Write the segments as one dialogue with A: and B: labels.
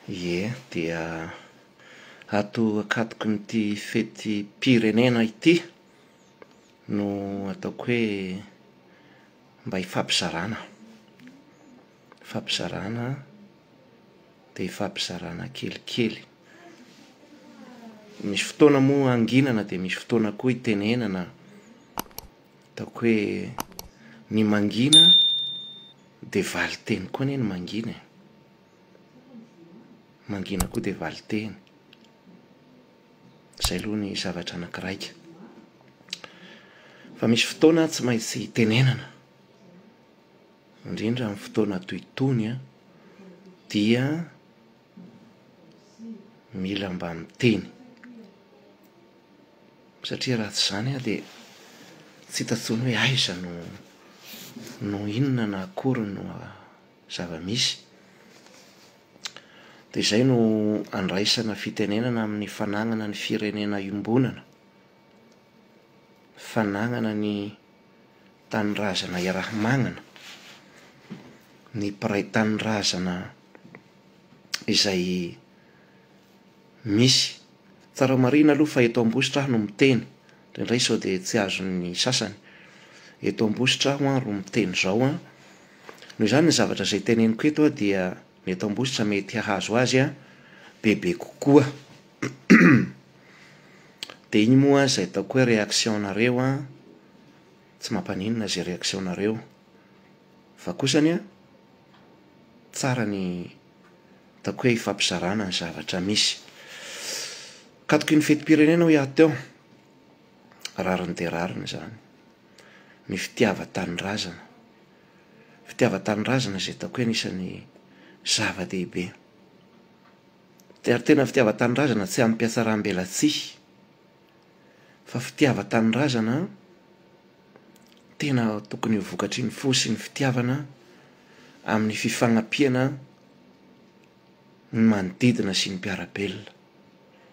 A: Ie, dia ato an-katokin'ity fetim-pirenena ity no ataoko hoe mba hifampizarana. Fampizarana dia fampizarana kelikely. Misy fotoana moa hanginana dia misy fotoana koa hitenenana, ataoko hoe ny mangina dia valin-teny koa anie ny mangina e, mangina koa dia valin-teny. Izay aloha ny zavatra anakiraika. Fa misy fotoana tsy maintsy hitenenana. indrindra amin'ny fotoana toy itony an, dia mila mba miteny, satria raha tsy izany an dia tsy hita intsony hoe aiza no no inona na akory no zava-misy. Dia izay no andraisana fitenenana amin'ny fanagnana ny firenena iombonana, fanagnana ny. tanindrazana iaraha-magnana, ny mpiray tanindrazana izay misy. Tsara marihina aloha fa eto Ambositra aho no miteny, indraindray sao dia tsy azon'ny sasany. Eto Ambositra aho an ro miteny izao an, noho izany ny zavatra izay teneniko eto dia ny eto Ambositra mety hahazo azy bebe kokoa. Dia iny moa izay ataoko hoe réaction nareo an, tsy mampaninona izay réaction nareo, fa kosa anie an, tsara ny ataoko hoe ifampizarana ny zavatra misy. Katoky ny fetim-pirenena hoy aho teo, rariny dia rariny izany, ny fitiavan-tanindrazana, fitiavan-tanindrazana izay ataoko hoe anisan'ny zava-dehibe. Ary tena fitiavan-tanindrazana tsy amim-pihatsarambelatsihy fa fitiavan-tanindrazana tena tokony ho vokatry ny fo sy ny fitiavana amin'ny fifagnampiana ny manodidina sy ny mpiara-belona,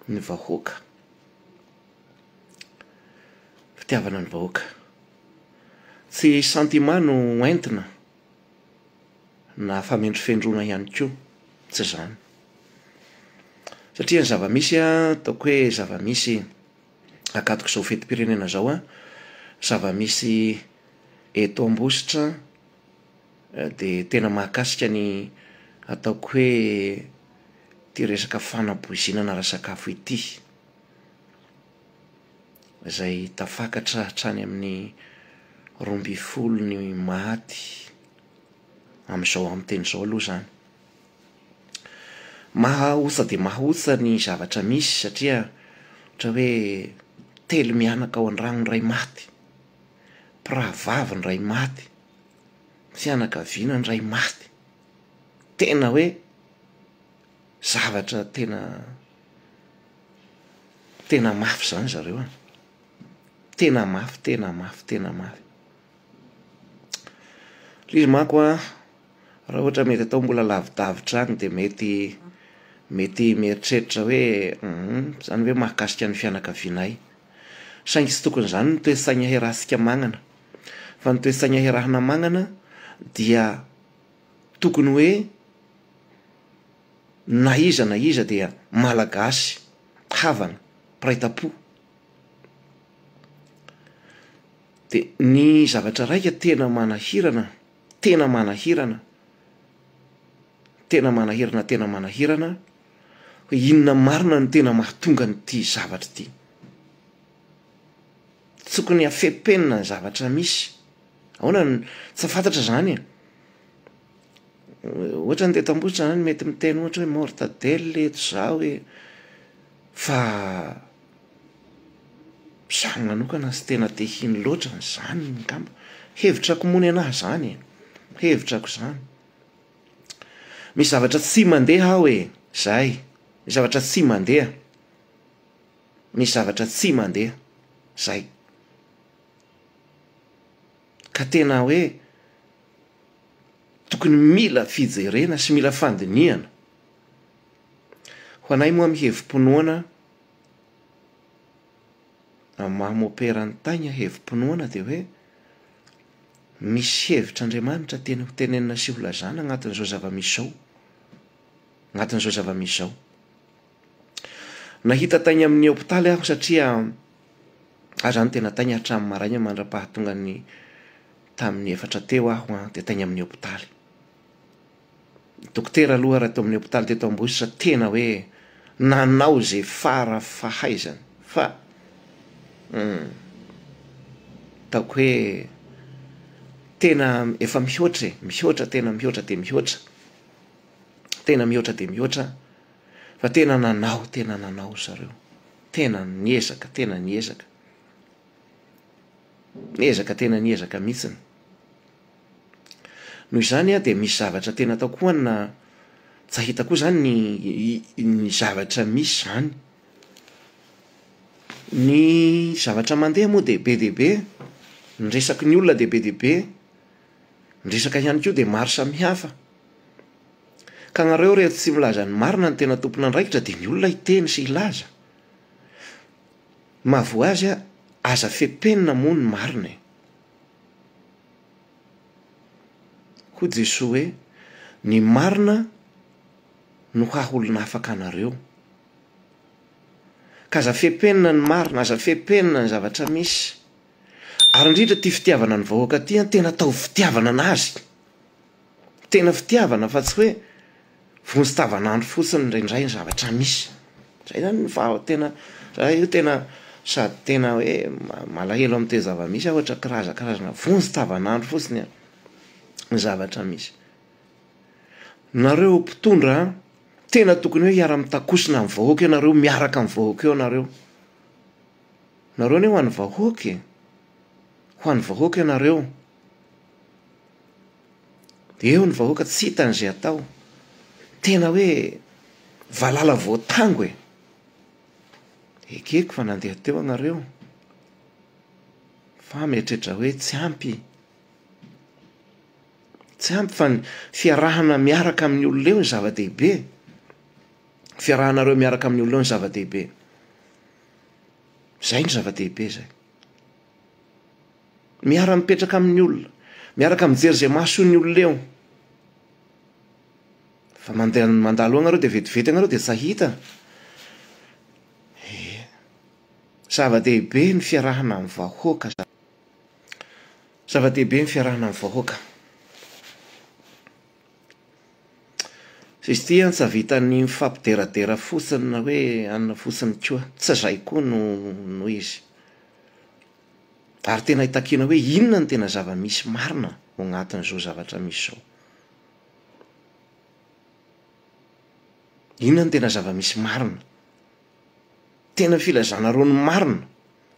A: ny vahoaka. Fitiavana ny vahoaka. Tsy sentiment no entina. na famendrofendroana ihany koa, tsy izany. Satria ny zava-misy a, ataoko hoe zava-misy ankatok'izao fetim-pirenena izao a, zava-misy eto Ambositra de tena mahakasika ny ataoko hoe ity resaka fanapoizinana ara-sakafo ity, izay tafakatra hatrany amin'ny roa ambin'ny folo ny maty. amin'izao amin'ny teny izao aloha izany. Mahaosa dia mahaosa ny zavatra misy satria ohatra hoe telo mianaka ao an-drano ny iray maty, mpirahavavy ny iray maty, fianakaviana ny iray maty. Tena hoe zavatra tena tena mafy izany zareo an! Tena mafy, tena mafy, tena mafy. Ilay izy manko an, raha ohatra mety atao mbola lavidavitra any dia mety mety mieritreritra hoe hum izany ve mahakasika ny fianakavianay. Saingy tsy tokony izany ny toe-tsaina iarahantsika mañana. Fa ny toe-tsaina iarahana mañana dia tokony hoe na iza na iza dia Malagasy havana, mpiray tam-po. De ny zavatra raika tena manahirana, tena manahirana, tena manahirana tena manahirana, hoe inona marina no tena mahatonga an'ity zavatra ity? Tokony hafepenina ny zavatra misy, ahoana no, tsy fantatra zany e. Ohatran'ny teto Ambositra zany mety miteny ohatra hoe mortadelle eto, zao e, fa. Zany manokana tsy tena te hino loatra an'izany ngamba. Hevitrako moa nenaha izany e. Hevitrako izany. Misy zavatra tsy mandeha ao e. Izay. Misy zavatra tsy mandeha. Misy zavatra tsy mandeha. Izay. Ka tena hoe tokony mila fijerena sy mila fandinihana. Ho anay moa amin'ny hevi-pinoana, Amin'ny maha mopera an'i Tay ny hevi-pinoana dia hoe, misy hevitr' Andriamanitra tiany ho tenenina sy ho lazana agnatin'izao zava-misy izao, agnatin'izao zava-misy izao. Nahita Tay ny amin'ny hopitaly aho satria aho zany tena Tay ny hatramin'ny maraina mandra-pahatongan'ny tamin'ny efatra teo aho dia Tay ny amin'ny hopitaly. Dokotera aloha ary ato amin'ny hopitaly teto Ambositra tena hoe nanao izay fara fahaizany fa hum ataoko hoe tena efa mihoatra e, mihoatra tena mihoatra dia mihoatra, tena mihoatra dia mihoatra fa tena nanao tena nanao ry zareo, tena niezaka tena niezaka, niezaka tena niezaka mihitsiny. Noho izany dia misy zavatra tena atao koa na tsy ahita koa izany ny ny zavatra misy izany. Ny zavatra mandeha moa dia be dia be, ny resaky ny olona dia be dia be, ny resaka ihany koa dia maro samihafa. Ka anareo reto tsy milaza ny marina no tena tompon'andraikitra dia ny olona hiteny sy hilaza. Mahavoa azy aza fepehy ny namoha ny marina e. Hoy Jesoa hoe, Ny marina no haha-olona afaka anareo. Ka aza fepenina ny marina, aza fepenina ny zavatra misy. Ary indrindra ity fitiavana ny vahoaka ity, tena ataovy fitiavana an'Azy. Tena fitiavana fa tsy hoe vonjy tavanandro fotsiny indraindray ny zavatra misy. Izay izany no faha tena raha io tena sady tena hoe malahelo amin'ny toe-java-misy aho ohatra kiraza karazana vonjy tavanandro fotsiny ny zavatra misy. Nareo mpitondra a, tena tokony hoe hiara-mitakosina amin'ny vahoaka ianareo, miaraka amin'ny vahoaka eo nareo. Nareo anie ho an'ny vahoaka e, ho an'ny vahoaka ianareo. Eo ny vahoaka tsy hitany izay atao. Tena hoe valala voatango e! Ekeko fa nandeha teo agnareo fa mieritreritra hoe tsy ampy. Tsy ampy fa ny fiarahana miaraka amin'ny olona eo no zava-dehibe e! Fiarahanareo miaraka amin'ny olona eo no zava-dehibe. Izay no zava-dehibe izay. Miara-mipetraka amin'ny olona. Miaraka mijery izay mahasoa ny olona eo. Fa mandeha mandalo eo ianareo dia vetivety ianareo dia tsy hahita. Ie. Zava-dehibe ny fiarahana amin'ny vahoaka. Zava-dehibe ny fiarahana amin'ny vahoaka. Izy ity an, tsy havitan'ny mifampideradera fotsiny na hoe anona fotsiny koa. Tsy izay koa no no izy. Ary tena hitakiana hoe inona no tena zava-misy marina ao anatin'izao zavatra misy izao. Inona no tena zava-misy marina? Tena filazanareo ny marina.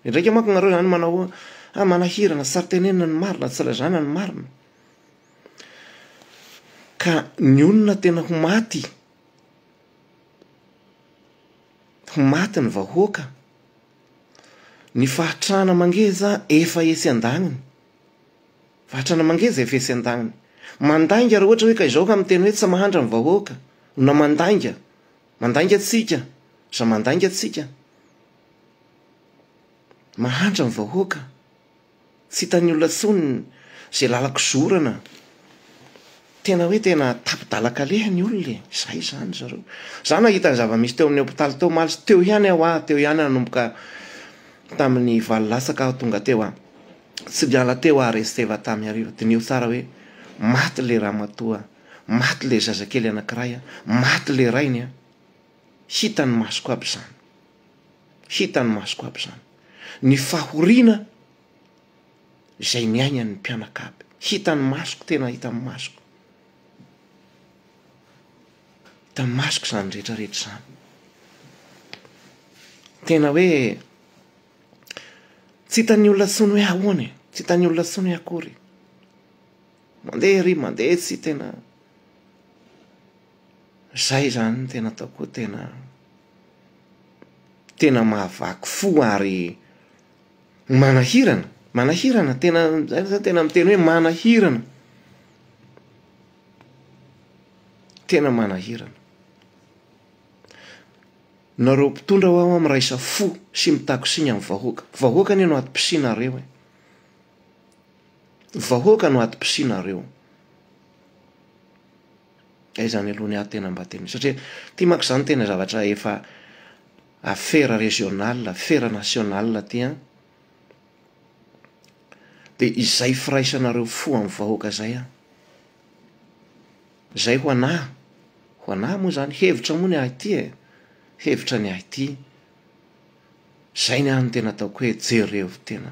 A: Endraika manko nareo zany manao hoe ah manahirana tsy tsara tenenina ny marina, tsy lazana ny marina. Ka ny olona tena ho maty, ho maty ny vahoaka, ny fahatrana mangeja efa etsy andagniny, fahatrana mangeja efa etsy andagniny. Mandainga raha ohatra hoe ka izao ka miteny hoe tsy mahantra ny vahoaka na mandainga. Mandainga tsika za mandainga tsika mahantra ny vahoaka tsy hitany olona tsony ze lalako zorana tena hoe tena tapi dala kaleha ny olona e zay zany zareo za nahita ny zava misy teo amin'ny hopitaly teo omaly teo ihany aho ah teo ihany nanomboka tamin'ny valo latsaka aho tonga teo ah tsy niala teo ah resteva tamy hariva diniho tsara hoe maty le ramatoa Maty ilay zazakely anankiray an, maty ilay rainy an, hitan'ny masoko aby izany, hitan'ny masoko aby izany, ny fahoriana izay niainan'ny mpianakavy, hitan'ny masoko, tena hitan'ny masoko, hitan'ny masoko izany rehetrarehetra izany. Tena hoe tsy hitan'ny olona intsony hoe ahoana e, tsy hitan'ny olona intsony hoe akory. Mandeha ery mandeha etsy tena zay zany no tena ataoko hoe tena tena mahavaky fo ary manahirana manahirana tena zay zany tena miteny hoe manahirana tena manahirana nareo mpitondra hoa hoa miraisa fo sy mitaky siny amin'ny vahoaka vahoaka anie no ato-pisinareo e Vahoaka no adim-pisianareo. Dia izany aloha ny ahy tena mba tena satria ity manko izany tena zavatra efa affaire régionale, affaire nationale ity an. Dia izay firaisanareo fo amin'ny vahoaka izay an. Izay ho an'ahy, ho an'ahy moa izany, hevitra moa ny ahy ity e, hevitra ny ahy ity. Izay ny ahy no tena ataoko hoe jereo tena.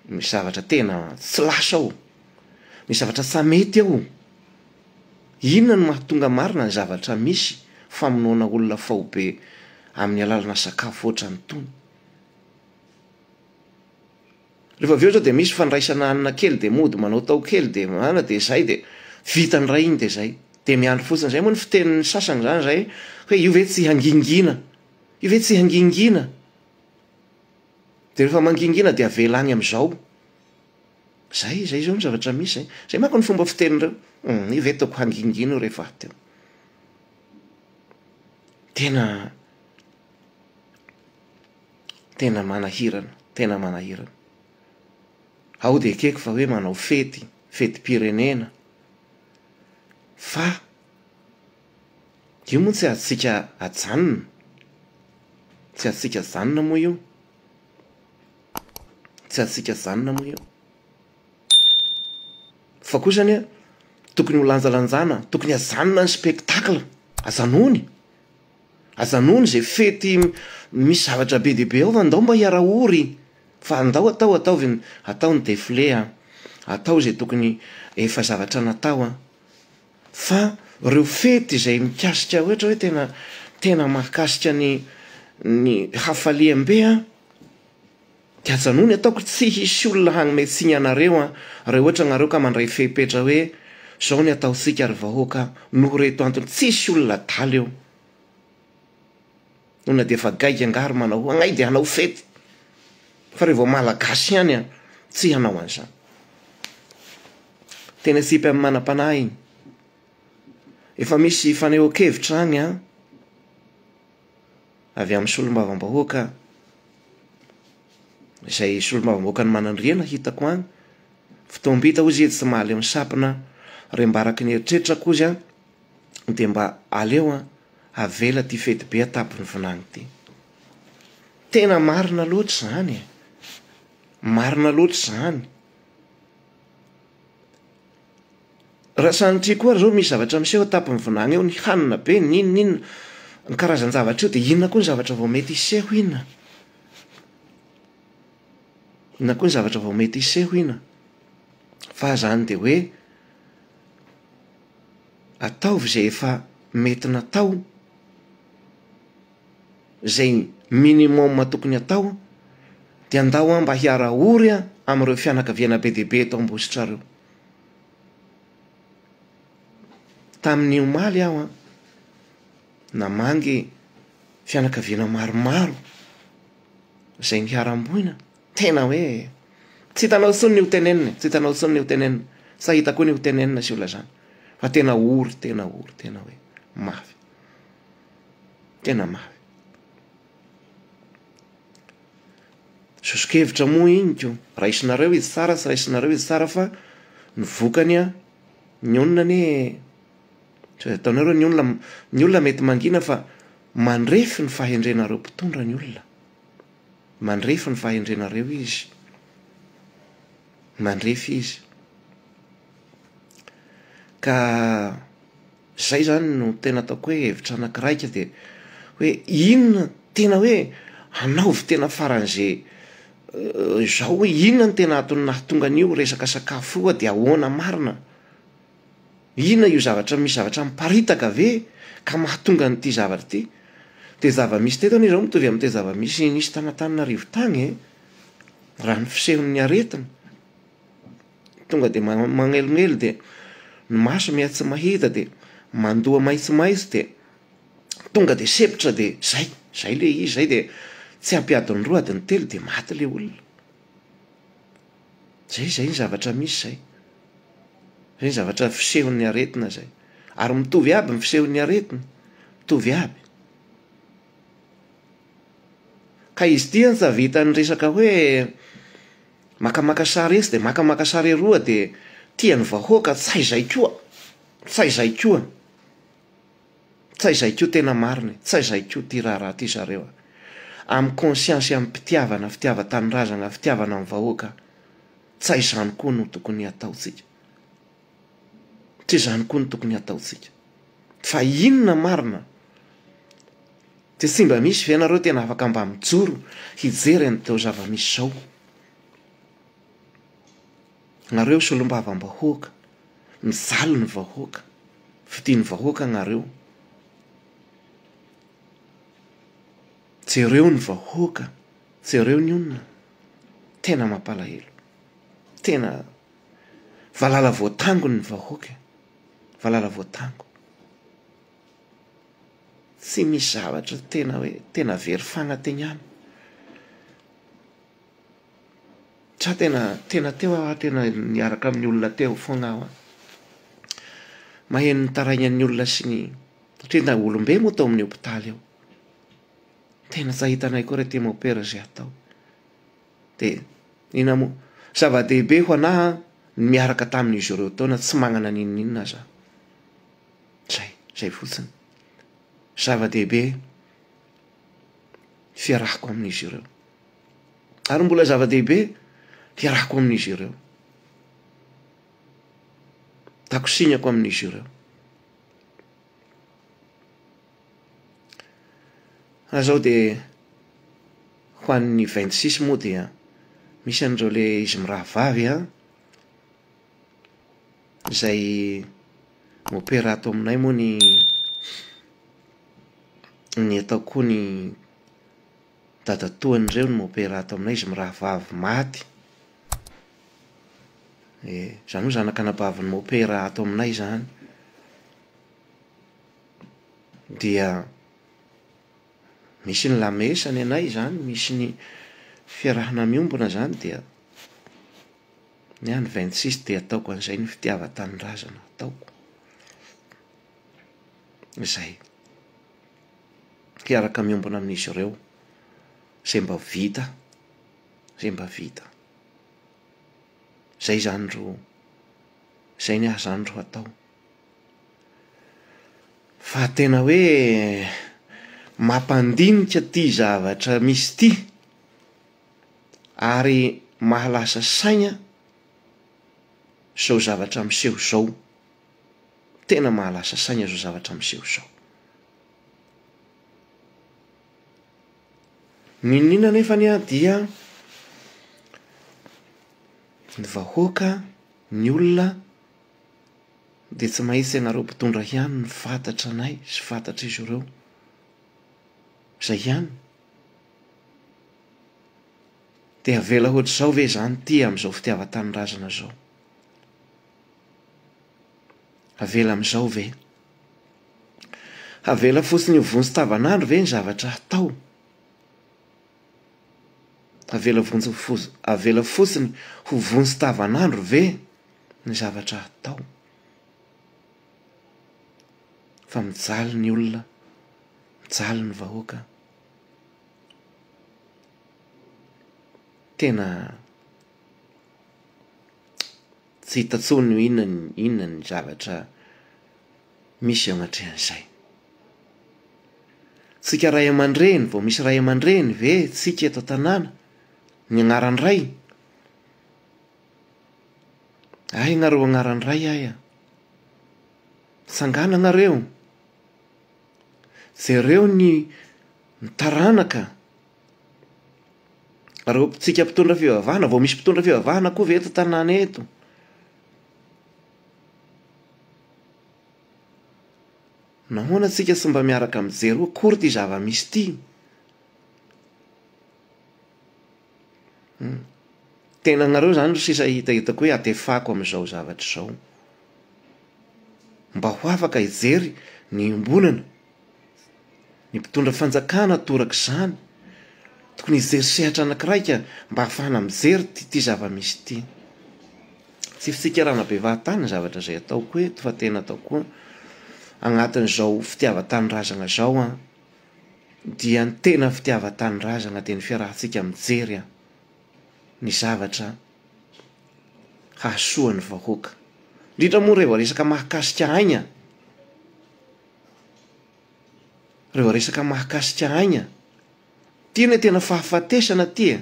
A: Misy zavatra tena tsy lasa ao. Misy zavatra tsa mety ao. Inona no mahatonga marina ny zavatra misy famonoana olona faobe amin'ny alalana sakafo ohatran'itony. Rehefa avy eo zao de misy fandraisana hanina kely de mody manao tao kely de manana de zay de vita ny iray iny de zay. De miandry fotsiny, zay moa ny fitenin'ny sasany zany zay hoe io ve tsy hangingina, io ve tsy hangingina? De rehefa mangingina de avela any am'zao. Zay, zay zao ny zavatra misy zay. Zay manko ny fomba fitenin'ireo, hum io ve ataoko hangingina io rehefa avy teo. Tena. Tena manahirana, tena manahirana. Ao dia ekeko fa hoe manao fety, fetim-pirenena fa io moa tsy azontsika ajanona, tsy azontsika ajanona moa io, tsy azontsika ajanona moa io. Fa kosa anie tokony ho lanjalanjana, tokony ajanona ny spectacle, ajanony. Aza hanohana izay fety misy zavatra be dia be ao fa ndao mba hiara-ory fa ndao atao ataovy ny atao ny defile a! atao izay tokony efa zavatra natao a! fa ireo fety izay mikasika ohatra hoe tena tena mahakasika ny ny hafaliam-be a! Dia ajanony ataoko tsy hisy olona hagnome tsiny anareo an, raha ohatra nareo ka mandray fepetra hoe zao ny ataontsika ry vahoaka noho reto antony tsy hisy olona adala eo. Olona dia efa gaigy angaha ry manao agnay dia hanao fety fa reo vao malagasy ihany an tsy hanao an'izany. Teny atsipy amin'ny manam-panahy iny. Efa misy fanehoan-kevitra agny an. avy amin'ny solombavambahoaka izay solombavambahoakan'i Manandriana hitako any, fotoam-bita hoy izy etsy tsy mahaleo ny sampona aho, rembaraky ny eritreritra kozy an, dia mba aleo an, avela ity fety be atapin'ny vinany ity. Tena marina loatra izany e! Marina loatra izany. Raha sanatria koa ary zao misy zavatra miseho eo tampony vinany eo, ny hanina be, ny inona inona, ny karazan-javatra io, dia inona koa ny zavatra vao mety hiseho ina? Inona koa ny zavatra vao mety hiseho ina? Fa zany dia hoe ataovy zay efa mety natao. zay minimum tokony hatao dia ndao aho mba hiara ory amin'ireo fianakaviana be dia be eto Ambositra ireo. Tamin'ny omaly aho an, namangy fianakaviana maromaro izay niharam-boina, tena hoe tsy hitanao intsony ny ho tenenina e, tsy hitanao intsony ny ho tenenina, sa hita koa ny ho tenenina sy olona izany fa tena ory, tena ory, tena hoe mafy. Tena mafy. Soso-kevitra moa henoko, raisinareo izy tsara sy raisinareo izy tsara fa ny vokany an, ny olona anie tsy azo ataonareo ny olona, ny olona mety mangina fa mandrefy ny fahendrenareo mpitondra ny olona, mandrefy ny fahendrenareo izy, mandrefy izy ka. Zay zany no tena ataoko hoe hevitra anakiray ka dia hoe inona tena hoe anaovy tena faran'ze zao hoe inona no tena antony nahatonga an'io resaka sakafo io dia ahoana marina? inona io zavatra misy zavatra miparitaka ve ka mahatonga an'ity zavatra ity? dia zava-misy teto anie zao mitovy amin'ity zava-misy nisy tany Antananarivo tany e! raha ny fisehon'ny aretina Tonga dia manelingelina dia ny maso miha tsy mahita dia mandoha maitsomaitso dia tonga dia sempotra dia zay, zay le izy zay dia tsy ampy adiny roa adiny telo dia maty le olona. Zay zay ny zavatra misy zay. Zay ny zavatra fisehon'ny aretina zay. Ary mitovy aby ny fisehon'ny aretina, mitovy aby. Ka izy ity an tsa vitan'ny resaka hoe Makamaka sary etsy dia makamaka sary eroa dia tian'ny vahoaka tsy hay zay koa, tsy hay zay koa, tsy hay zay koa tena marina e, tsy hay zay koa ty raharaha ty zareo a! Am conscience am pitiavana, fitiavan-tanindrazagna, fitiavana ny vahoaka, tsy hay zany koa no tokony hataontsika. Tsy izany koa no tokony hataontsika. Fa inona marina? Dia tsy mba misy ve ianareo tena afaka mba mijoro hijery an'izao zava-misy izao? Ianareo solombavambahoaka, mijaly ny vahoaka, fidian'ny vahoaka ianareo. Jereo ny vahoaka, jereo ny olona. Tena mampalahelo. Tena. Valala voatango ny vahoaka e! Valala voatango. Tsy misy zavatra tena hoe tena very fanategnana. Za tena tena teo aho tena niaraka amin'ny olona teo foana aho. Maheno ny taraignan'ny olona sy ny satria na olombe moa tao amin'ny hopitaly ao. Tena tsy ahitanay koa re ty mopera izay atao. Dia inona moa? Zava-dehibe ho anah ny miaraka tamin'izy ireo teo na tsy manana n'inon'inona aza aho. Izay, izay fotsiny. Zava-dehibe ny fiarahako amin'izy ireo. Ary mbola zava-dehibe ny fiarahako amin'izy ireo. Takosinako amin'izy ireo. Azao dia ho an'ny vingt six moa dia misy an'ireo le izy mirahavavy an, izay mi-opera ato aminay moa ny ny ataoko koa ny dadatoany ireo no mi-opera ato aminay, izy mirahavavy maty, eh, izany hoe zanak'anabavin'ny mi-opera ato aminay izany. dia misy ny lamesa ny anay izany, misy ny fiarahana miombona izany dia ny ahy ny vingt six dia ataoko an'izay ny fitiavan-tanindrazana ataoko. Izay. Hiaraka miombona amin'izy ireo izay mba vita, izay mba vita. Izay izany ro, izay ny ahy izany ro atao. Fa tena hoe mampandinika ity zavatra misy ity ary mahalasa saina izao zavatra miseho izao. Tena mahalasa saina izao zavatra miseho izao. Ninoninona anefa anie aho dia ny vahoaka, ny olona dia tsy maitsy ianareo mpitondra ihany no fantatra anay sy fantatr'izy ireo. Izay ihany. Dia avela hoatr'izao ve izany ity amin'izao fitiavan-tanindrazana izao? Avela amin'izao ve? Avela fotsiny ho vonjy tavanandro ve ny zavatra hatao? Avela vonjy avela fotsiny ho vonjy tavanandro ve? ny zavatra atao fa mijaly ny olona, mijaly ny vahoaka. Tena tsy hita intsony hoe inona ny inona ny zavatra misy eo anatrehan'izay. Tsika ray aman-dreny vao misy ray aman-dreny ve tsika eto an-tanàna ny anaran-dray? Hay nareo agnaran Ray ay a! Tsangana nareo! Jereo ny taranaka! Reo tsika mpitondra fivavahana, vao misy mpitondra fivavahana koa ve eto tanàna eto? Nahoana tsika tsy mba miaraka mijery hoe akory ty zava-misy ty? Tena anareo izany ry sisa hita hitako hoe atefako amin'izao zavatra izao. Mba ho afaka hijery ny iombonana. Ny mpitondra fanjakana torak'izany. Tokony hijery sehatra anankiray ka mba hahafahana mijery ity zava-misy ity. Tsy fitsikera-na bevaha tany ny zavatra izay ataoko eto fa tena ataoko anatin'izao fitiavan-tanindrazana izao aho. dia ny tena fitiavan-tanindrazana dia ny fiarahantsika mijery ny zavatra hahasoa ny vahoaka. Indrindra moa rehefa resaka mahakasika aigna, rehefa resaka mahakasika aigna, ty anie tena fahafatesana ty e.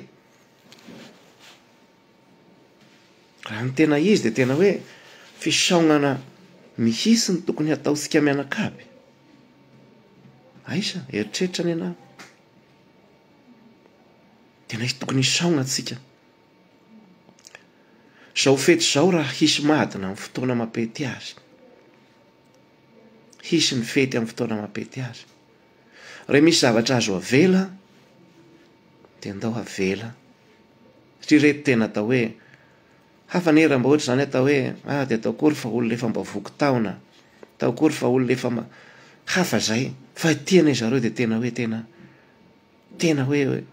A: Raha ny tena izy dia tena hoe fisaonana mihitsy no tokony hataontsika mianakavy. Aiza, eritreritra anie ianao. Tena hisy tokony hisaona antsika. Izao fety izao raha hisy madina amin'ny fotoana mampety azy. Hisy ny fety amin'ny fotoana mampety azy. Raha misy zavatra azo avela dia andao avela. Satria ireto tena atao hoe hafa anie raha mba ohatra izany atao hoe ah dia atao akory fa olona efa mba voky taona, atao akory fa olona efa mba hafa izay. Fa ity anie zareo dia tena hoe tena tena hoe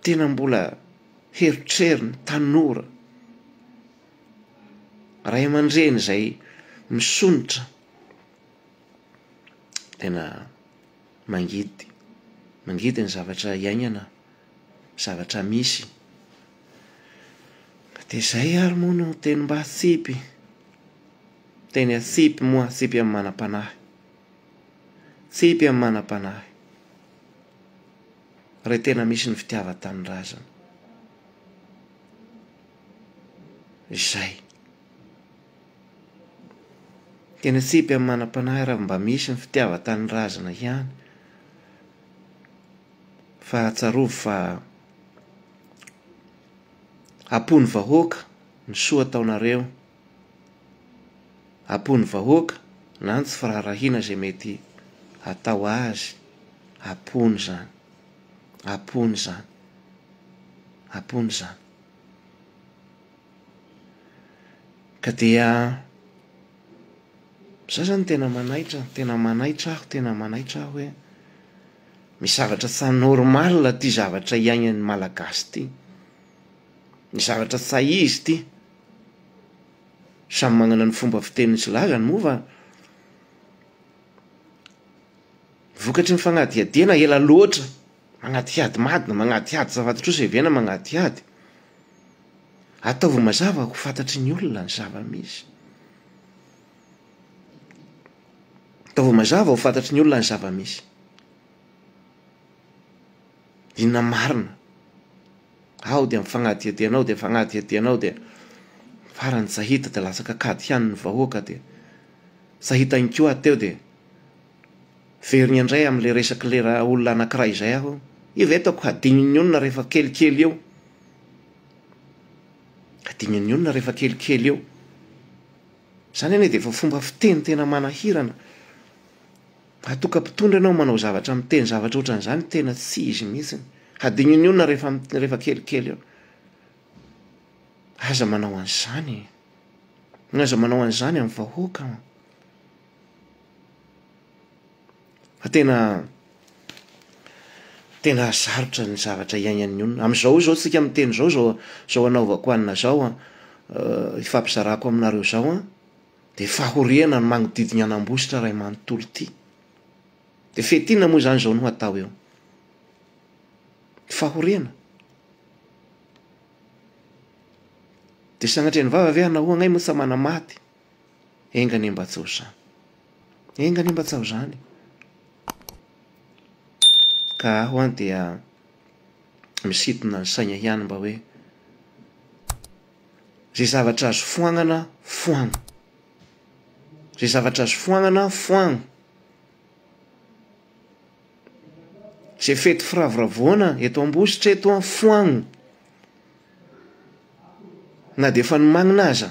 A: tena mbola herotrerony tanora. Ray aman-dreny izay misonitra Tena mangidy, mangidy ny zavatra hiaignana, zavatra misy. De zay ary moa no teny mba atsipy, teny atsipy moa atsipy amin'ny manam-panahy, tsipy amin'ny manam-panahy, re tena misy ny fitiavan-tanindrazana. Izay. Tena tsipy amin'ny manam-panahy raha mba misy ny fitiavan-tanindrazana ihany. Fa tsarovy fa am-pon'ny vahoaka ny soa ataonareo, am-pon'ny vahoaka na ny tsy firaharahiana izay mety hatao azy, am-pony izany, am-pony izany, am-pony izany. Ka dia za zany tena manaitra tena manaitra aho tena manaitra aho hoe misy zavatra tsy normal ity zavatra iainan'ny Malagasy ity. Ny zavatra tsy hay izy ity. Samy manana ny fomba fiteniny sy lazany moa fa vokatry ny fanadihadiana ela loatra, manadihady madina, manadihady zava-tsoa sy evenina manadihady. Ataovy mazava ho fantatry ny olona ny zava-misy. Ataovy mazava ho fantatry ny olona ny zava-misy. Inona marina? Ao dia mifagnadihadiana ao dia mifagnadihadiana ao dia farany tsy hahita dia latsaka kady ihany ny vahoaka dia tsy hahita ihany koa teo dia Miverina indray amin'ilay resak'ilay ra olona anankiray izay aho. Io ve ataoko hadinin'ny olona rehefa kelikely eo? Hadinin'ny olona rehefa kelikely eo. Izany anie dia efa fomba fiteny tena manahirana. Mahatoka mpitondra ianao manao zavatra miteny zavatra ohatran'izany tena tsy izy mihitsy. Hadinin'ny olona rehefa rehefa kelikely eo. Aza manao an'izany e! Aza manao an'izany amin'ny vahoaka. Fa tena tena sarotra ny zavatra iainan'ny olona. Amin'izao izao isika miteny izao, izao izao anaovako anona izao an, ifampizarako aminareo izao an, dia fahoriana ny manodidina an'Ambositra iray manontolo ity. Dia fety inona moa izany izao no hatao eo? Fahoriana. Dia sagnatria ny vava ve hanao hoe anay moa tsa manamaty? Enga anie mba tsaho izany. Enga anie mba tsaho izany e. Ka aho an dia misintona ny saina ihany mba hoe izay zavatra azo foanana foano. Izay zavatra azo foanana foano. Izay fety firavoravoana eto Ambositra eto an foano. Na dia efa nomanina aza.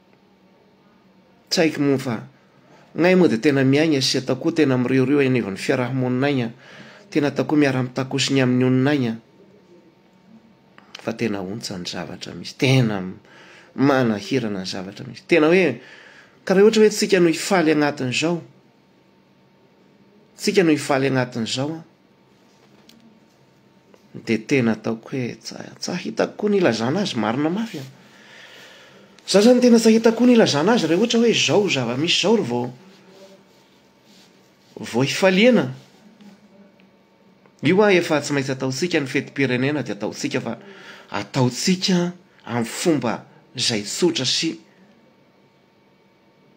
A: Tsy haiko moa fa gnay moa dia tena miaigna sy ataoko koa tena miriorio eny anivon'ny fiaraha-monina aigna, tena ataoko koa miara-mitakoso ny amin'ny olona aigna fa tena ontsa ny zavatra misy, tena manahirana ny zavatra misy, tena hoe karaha ohatra hoe tsika no hifaly agnatin'izao. Tsika no hifaly agnatin'izao an! Dia tena ataoko hoe tsa hitako koa ny ilazana azy marina mafy an! Za zany tena tsa hitako koa ny ilazana azy raha ohatra hoe izao zava-misy izao ry vao vao hifaliana. Io an efa tsy maintsy ataontsika ny fetim-pirenena dia ataontsika fa ataontsika amin'ny fomba izay tsotra sy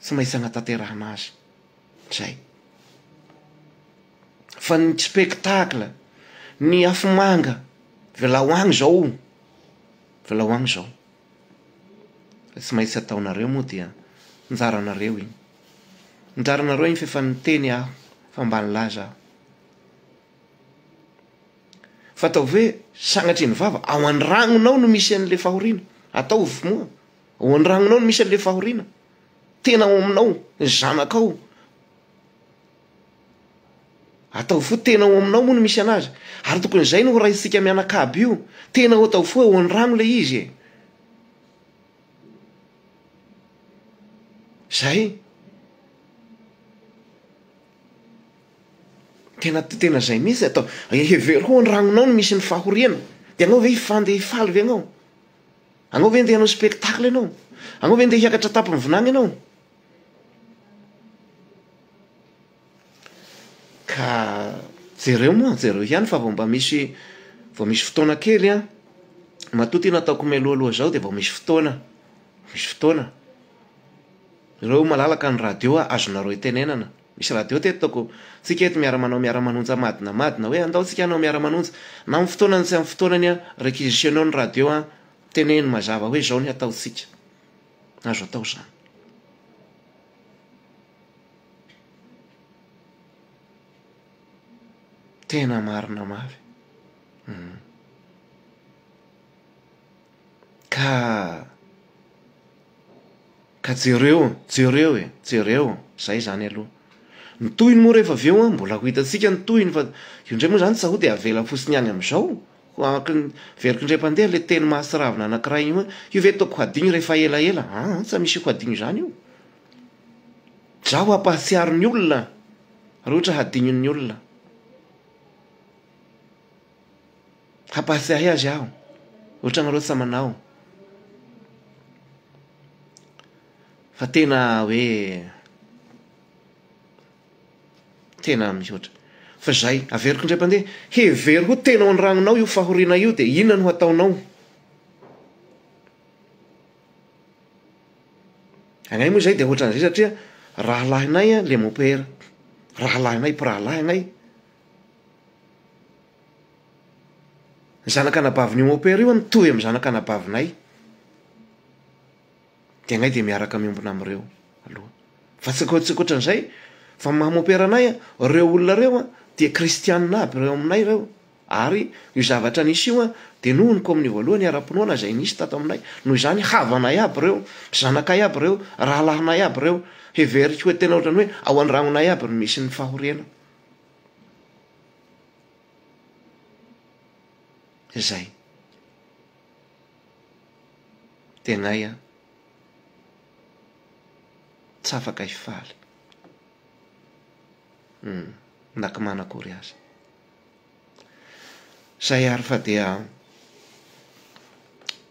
A: tsy maintsy hanatanterahana azy izay. Fa ny spectacle, ny afomanga, velao agny zao, velao agny zao. Fa tsy maintsy ataonareo moa dia anjaranareo iny. Anjaranareo iny f'efa niteny aho fa mba nilaza aho. Fa ataovy hoe sagnatria ny vava, ao an-dragnonao no misy an'le fahoriana, ataovy moa. Ao andragnonao no misy an'ilay fahoriana. Tena ao aminao, ny zanakao. Ataovy fo tena ao aminao moa no misy anazy. Ary tokony izay no horaisintsika mianakavy io. Tena ao ataovy fo ao andragno ilay izy e. Zay. Tena tena zay mihitsy atao. Hevero ho andragnonao no misy ny fahoriana. Dia anao ve hifandeh hifaly ve anao? Anao ve ndeha hanao spectacle ianao? Anao ve ndeha hiakatra an-tampon'ny vinany ianao? Ka jereo moa, jereo ihany fa vao mba misy vao misy fotoana kely an, matoa ity nataoko mialoaloha izao dia vao misy fotoana, misy fotoana. Jereo malalaka ny radio azonareo itenenana. Misy radio teto toko. Tsika eto miara manao miara manonja madina madina hoe andao tsika hanao miara manonja. Na amin'ny fotoanany tsy amin'ny fotoanany an, requisitionner ny radio an, teneno mazava hoe zao ny hatao tsika. Azo atao zany. Tena marina mafy. Hum. Ka. Ka jereo, jereo e, jereo, zay zany aloha. Ny tohiny moa rehefa avy eo an, mbola ho hitantsika ny tohiny fa io indray moa zany tsa ho de avela fotsiny ihany amizao, hoaky ny very kindray mpandeha le teny mahatsiravina anakiray iny hoe, io ve tôko hadigno rehefa ela ela, aa tsa misy ho hadigno izany io, dra ho hampahatsiaro ny olona, ary ohatra hadignon'ny olona. Hampahatsiahy azy aho, ohatranareo tsy manao, fa tena hoe tena mihoatra. Fa izay, averiko indray mpandeha, hevero ho tena ao an-dragnonao io fahoriana io dia inona no hataonao? Agnay moa izay dia ohatran'izay satria rahalahinay le mopera, rahalahinay mpirahalahy agnay. Ny zanak'anabavin'i Homopera io hono mitovy amin'ny zanak'anabavinay, dia anay dia miaraka miombona amin'ireo aloha. Fa tsy tsy ankoatran'izay, fa ny maha Homopera anay an, ireo olona ireo an, dia kristianina aby ireo aminay ireo, ary io zavatra nisy io an, dia noho ny kaominio voalohany ara-pinoana izay nisy tato aminay, noho izany havanay aby ireo, zanakay aby ireo, rahalahinay aby ireo, heveriko hoe tena ohatran'ny hoe ao an-dragnonay aby no misy ny fahoriana. Zay. Tegnay an. Tsy afaka hifaly. Na koa manana akory aza. Zay ary fa dia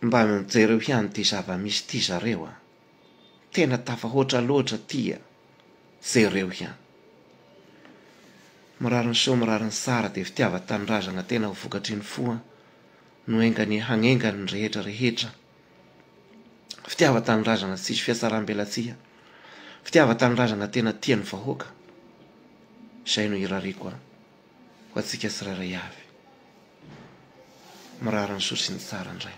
A: mba mijereo ihany ity zava-misy ity zareo an. Tena tafahoatra loatra aty a! Jereo ihany. Mirary ny soa mirary ny tsara dia fitiava tanindrazana tena ho vokatry ny fo an no enganie hagnengany ny rehetra rehetra fitiava tanindrazana tsisy fiatsarambelatsihy fitiava tanindrazana tena tia ny vahoaka izay no irariako an ho antsika tsirairay avy mirary ny soa sy ny tsara indray